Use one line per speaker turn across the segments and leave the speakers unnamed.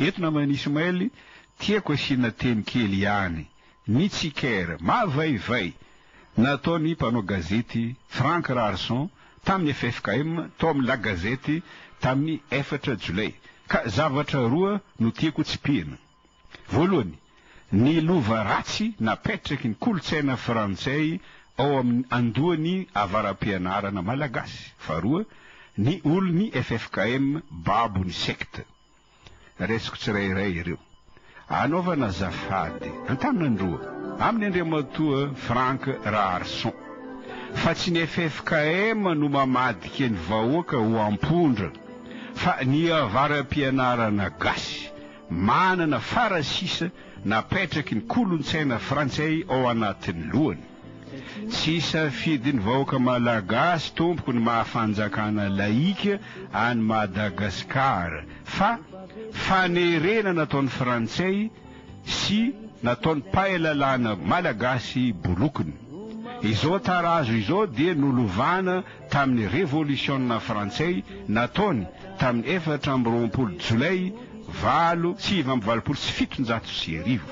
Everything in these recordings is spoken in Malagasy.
Eto naman'i Ismaël tiako asiana teny kely ihany, ny tsikera mavaivay nataon'ny mpanao gazety Franck Raharison tamin'ny ffkm tao amin'ny La Gazette tamin'ny efatra Jolay ka zavatra roa no tiako tsipihina. Voalohany, ny lova ratsy napetraky ny kolontsaina frantsay ao amin'ny andohan'ny avara-pianarana malagasy. Faharoa, ny olon'ny ffkm babo ny secte. Raisiko tsirairay ireo. Anaovana azafady, an-tanan-droa, amin'i Andriamatoa Franck Raharison, fa tsy ny ffkm no mamadika ny vahoaka ho ampondra, fa ny avara-pianarana gasy. Manana farasisa napetraky ny kolontsaina frantsay ao anatin'ny lohany. Tsy safidin'ny vahoaka malagasy tompoko ny maha fanjakana laïque an'i Madagascar fa fanerena nataon'ny frantsay sy nataon'ny mpahay lalàna malagasy bolokony. Izao tarazo izao dia nolovana tamin'ny revolisiona frantsay nataony tamin'ny efatra amby roapolo jolay valo sivy amby valopolo sy fitonjato sy arivo.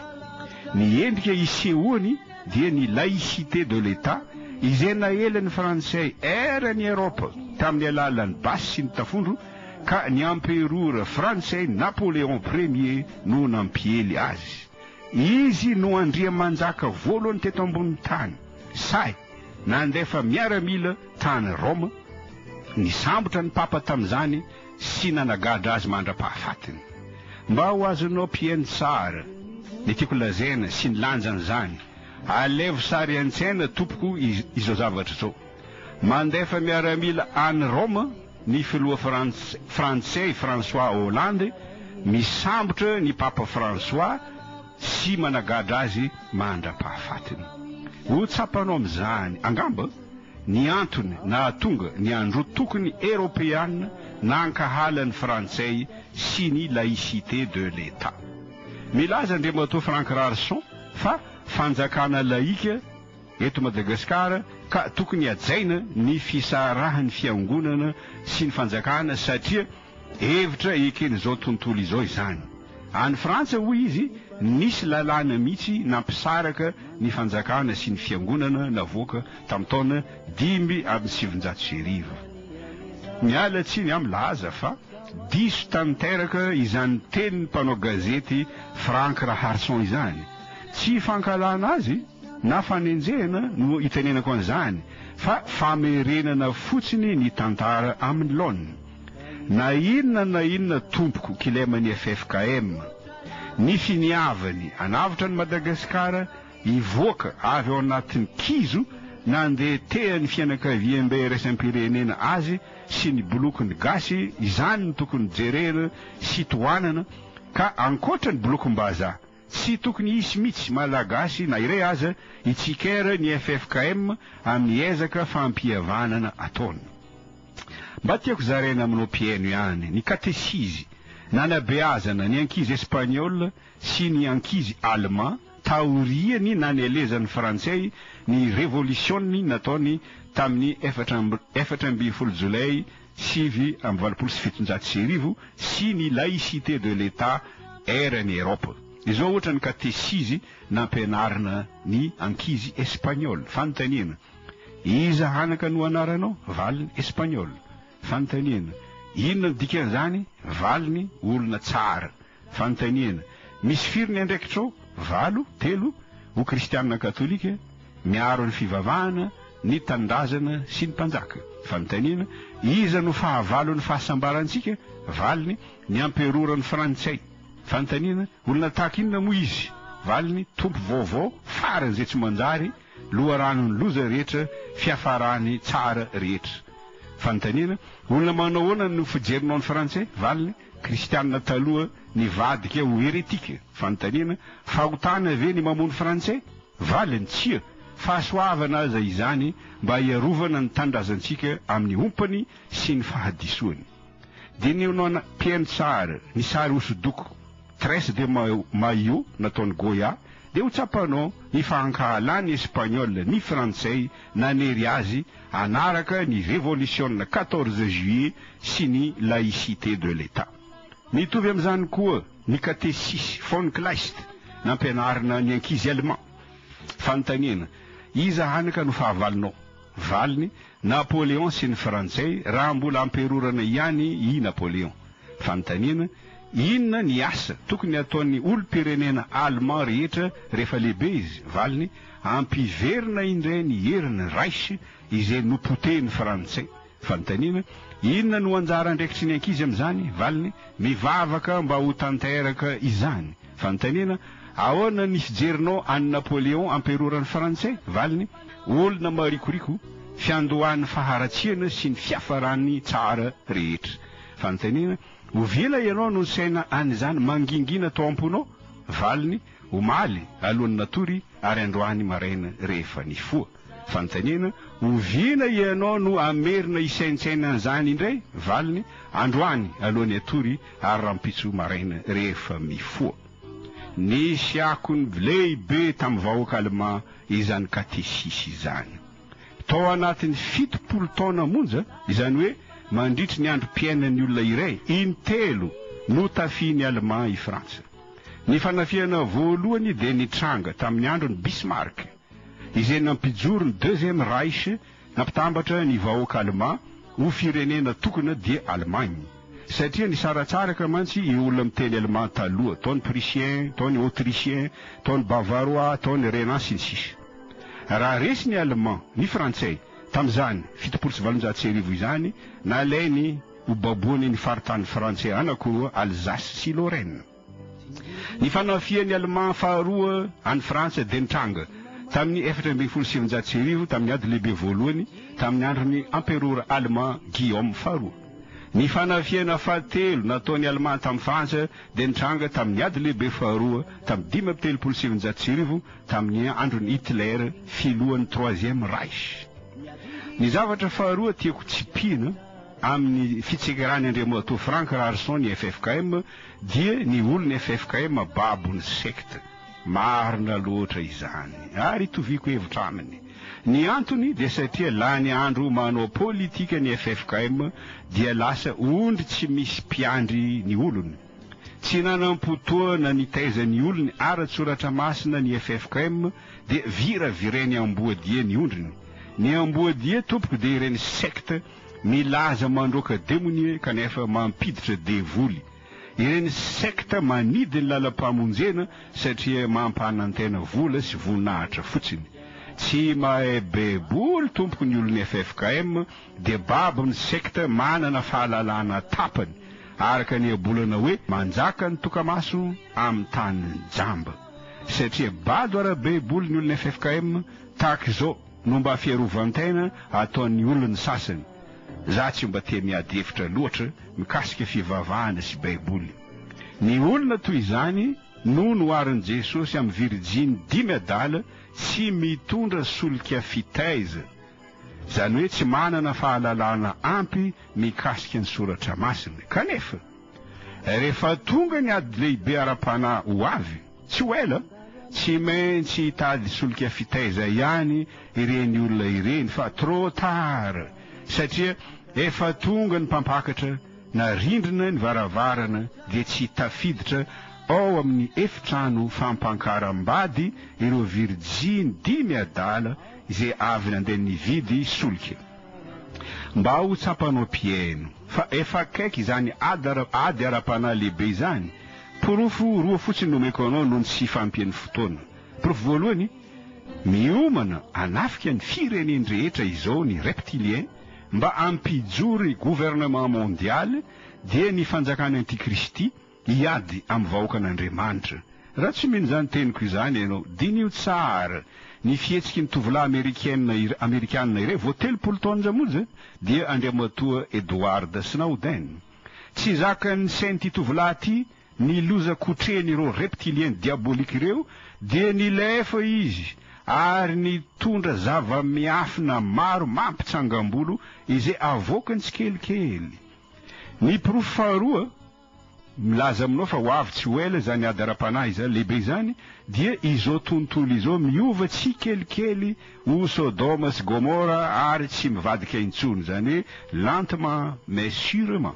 Ny endrika isehoany dia ny laïcité de l'Etat izay naelan'ny frantsay ela ny Eropa tamin'ny alalan'ny basy sy ny tafondro ka ny amperora frantsay Napoléon premier no nampiely azy. Izy no andriamanjaka voalohany teto ambonin'ny tany. Sahy. Nandefa miaramila tany Roma, nisambotra ny Papa tamin'izany sy nanagadra azy mandra-pahafatiny. Mba ho azonao mpihaino tsara ny tiako lazaina sy ny lanjan'izany, alevo sary an-tsaina tompoko izao zavatra izao. Mandefa miaramila any Roma ny filoha frantsay François Hollande misambotra ny Papa François, sy managadra azy mandra-pahafatiny. Ho tsapanao amin'izany, angamba, ny antony nahatonga ny androtokony eropeana nankahala ny Frantsay sy ny laïcité de l'Etat. Milaza Andriamatoa Franck Rarson fa fanjakana laïka eto Madagasikara ka tokony hajaina ny fisarahan'ny Fiangonana sy ny fanjakana satria Hevitra eken'izao tontolo izao izany. Any Frantsa, hoy izy, nisy lalàna mihitsy nampisaraka ny fanjakana sy ny fiangonana navoaka tamin'ny taona dimy amby sivinjato sy arivo. Miala tsiny aho milaza fa diso tanteraka izany tenin'ny mpanao gazety Franck Raharson izany. Tsy fankahalana azy na fanenjehana no itenenako an'izany fa famerenana fotsiny ny tantara amin'ny laoniny. Na inona na inona tompoko kilema ny ffkm, ny finiavany anavotra an'i Madagasikara hivoaka avy ao anatin'ny kizo nandeha tehan'ny fianakaviambe iraisam-pirenena azy sy ny bolokin'ny gasy izany no tokony jerena sy tohanana ka ankoatra ny bolokim-bazaha Tsy tokony hisy mitsy Malagasy na iray aza hitsikera ny ffkm amin'ny ezaka fampihavanana ataony. Mba tiako zaraina aminao mpihaino ihany ny katesizy nanabeazana ny ankizy Espagnol sy ny ankizy Alema taorian'ny nanelezan'ny Frantsay ny revolisiona nataony tamin'ny efatra amby folo Jolay sivy amby valopolo sy fitonjato sy arivo sy ny Laïcité de l'Etat Ère ny Europe. Izao ohatra ny katesizy nampianarina ny ankizy Espagnol. Fanontaniana, Iza anaka no anaranao? Valiny, Espagnol. Fanontaniana, Inona no dikan'izany? Valiny, Olona tsara. Fanontaniana, Misy firy ny andraikitrao? Valo, telo, ho kristianina katolika, miaro ny fivavahana, ny tanindrazana sy ny mpanjaka. Fanontaniana, Iza no fahavalon'ny fahasambarantsika? Valiny, Ny amperoran'ny frantsay. Fanontaniana, Olona tahaka inona moa izy? Valiny, Tompo vaovao faran'izay tsy manjary, loharanon'ny loza rehetra, fiafarany tsara rehetra. Fanontaniana, Olona manao ahoana no fijerinao ny frantsay? Valiny, Kristianina taloha nivadika ho heretika. Fanontaniana, Fahotana ve ny mamono Frantsay? Valiny, Tsia! Fahasoavana aza izany mba hiarovana ny tanindrazantsika amin'ny ompany sy ny fahadisoany. Diniho non piensare ny sary hosodoko, Tres de Maio, nataon'i Goya, dia ho tsapanao ny fahankahalan'ny Espaniola ny Frantsay nanery azy hanaraka ny revolisiona quatorze juillet sy ny laïcité de l'Etat. Mitovy amin'izany koa ny Katesis von Kleist nampianarina ny ankizy Alemà. Fanontaniana, Iza hany ka no fahavalonao? Valiny, Napoléon sy ny Frantsay raha mbola amperorana ihany i Napoléon. Fanontaniana, Inona ny asa tokony hataon'ny olom-pirenena Allemand rehetra rehefa lehibe izy? Valiny, Hampiverina indray ny herin'ny Reich izay nopotehin'ny Frantsay. Fanontaniana, Inona no anjara andraikitry ny ankizy amin'izany? Valiny, Mivavaka mba ho tanteraka izany. Fanontaniana, Ahoana ny fijerinao an'i Napoléon amperoran'ny Frantsay? Valiny, Olona marikoriko, fiandohan'ny faharatsiana sy ny fiafaran'ny tsara rehetra. Fanontaniana, Ovila ianao no nisaina an' izany mangingina tao am-ponao? Valiny, Omaly alohan' ny natory ary androany maraina rehefa nifoha. Fanontaniana, Oviana ianao no hamerina hisaintsaina an' izany indray? Valiny, Androany alohan' ny hatory ary rahampitso maraina rehefa mifoha. Nisy akony lehibe tamin'ny vahoaka alemà izany katesisy izany. Tao anatin'ny fitopolo taona monja, izany hoe mandritry ny androm-piainan'ny olona iray, intelo no tafihin'i Alemà i Frantsa. Ny fanafihana voalohany dia nitranga tamin'ny andron'i Bismarck, izay nampijoro ny Deuxième Reich, nampitambatra ny vahoaka alemà ho firenena tokana, dia Allemagne. Satria nisaratsaraka mantsy io olona miteny allemand taloha, tao ny prussien, tao ny autrichien, tao ny bavarois, tao ny rhénan sy ny sisa. Raha resy ny allemand, ny frantsay, tamin'izany fitopolo sy valonjato sy arivo izany, nalainy ho baboany ny faritany frantsay anankiroa, Alsace sy Lorraine. Ny fanafihan'ny Alemà faharoa an'i Frantsa dia nitranga tamin'ny efatra ambin'ny folo sy sivinjato sy arivo tamin'ny Ady Lehibe Voalohany tamin'ny andron'ny Amperora Alemà Guillaume faharoa. Ny fanafihana fahatelo nataon'i Alemà tamin'i Frantsa dia nitranga tamin'ny Ady Lehibe Faharoa tamin'ny dimy amby telopolo sy sivinjato sy arivo tamin'ny andron'i Hitler filohan'ny Troisième Reich. Ny zavatra faharoa tiako tsipihina amin'ny fitsekerany Andriamatoa Frank Raharison ny FFKM Dia ny olon'ny ffkm babo ny secte. Marina loatra izany. Ary itoviako hevitra aminy. Ny antony dia satria lany andro manao politika ny ffkm dia lasa ondry tsy misy mpiandry ny olony. Tsy nanam-potoana nitaiza ny olony ara-tsoratra masina ny ffkm dia viravireny amboadia ny ondriny. Ny amboadia tompoko dia ireny secte Milaza mandroaka demonie kanefa mampiditra devoly. Ireny secte manidy ny lalam-pamonjena satria mampanantena vola sy voninahitra fotsiny. Tsy mahay baiboly tompoko ny olon'ny ffkm dia babo amin'ny secte manana fahalalana tapany araka ny iabolana hoe manjaka ny tokamaso amin'ny tany jamba. Satria bado ara-baiboly ny olon'ny ffkm tahaka izao. no mba fiarovan-tena ataon'ny olon'ny sasany, za tsy mba te miady hevitra loatra mikasika fivavahana sy baiboly. Ny olona toy izany no noharin'i Jesosy amin'ny virijiny dimy adala tsy mitondra solika fitaiza, izany hoe tsy manana fahalalana ampy mikasika ny soratra masina. Kanefa, rehefa tonga ny ady lehibe ara-panahy ho avy, Tsy ho ela, tsy maintsy hitady solika fitaiza ihany ireny olona ireny fa trop tard satria efa tonga ny mpampakatra na rindrina ny varavarana dia tsy tafiditra ao amin'ny efitrano fampankaram-bady ireo virjiny dimy adala izay avy nandeha nividy solika. Mba ho tsapanao mpihaino fa efa akaiky izany ady ara-panahy lehibe izany Porofo roa fotsiny no omeko anao noho ny tsy fahampian'ny fotoana. Porofo voalohany, Miomana hanafika ny firenen-drehetra izao ny reptiliens mba hampijoro ny gouvernement mondial dia ny fanjakan'ny antikristy hiady amin'ny vahoakan'Andriamanitra. Raha tsy mino izany teniko izany ianao, diniho tsara ny fihetsiky ny tovolahy amerikena iray amerikanina iray vao telopolo taonja monja dia Andriamatoa Edward Snowden. Tsy zakan'ny sain'ity tovolahy ity ny loza kotrehin'ireo reptiliens diaboliques ireo dia nilefa izy ary nitondra zava-miafina maro mampitsangam-bolo izay avoakany tsikelikely. Ny porofo faharoa milaza aminao fa ho avy tsy ho ela izany ady ara-panahy izany lehibe izany dia izao tontolo izao miova tsikelikely ho Sodoma sy Gomora ary tsy mivadika intsony, izany hoe lentement mais surement.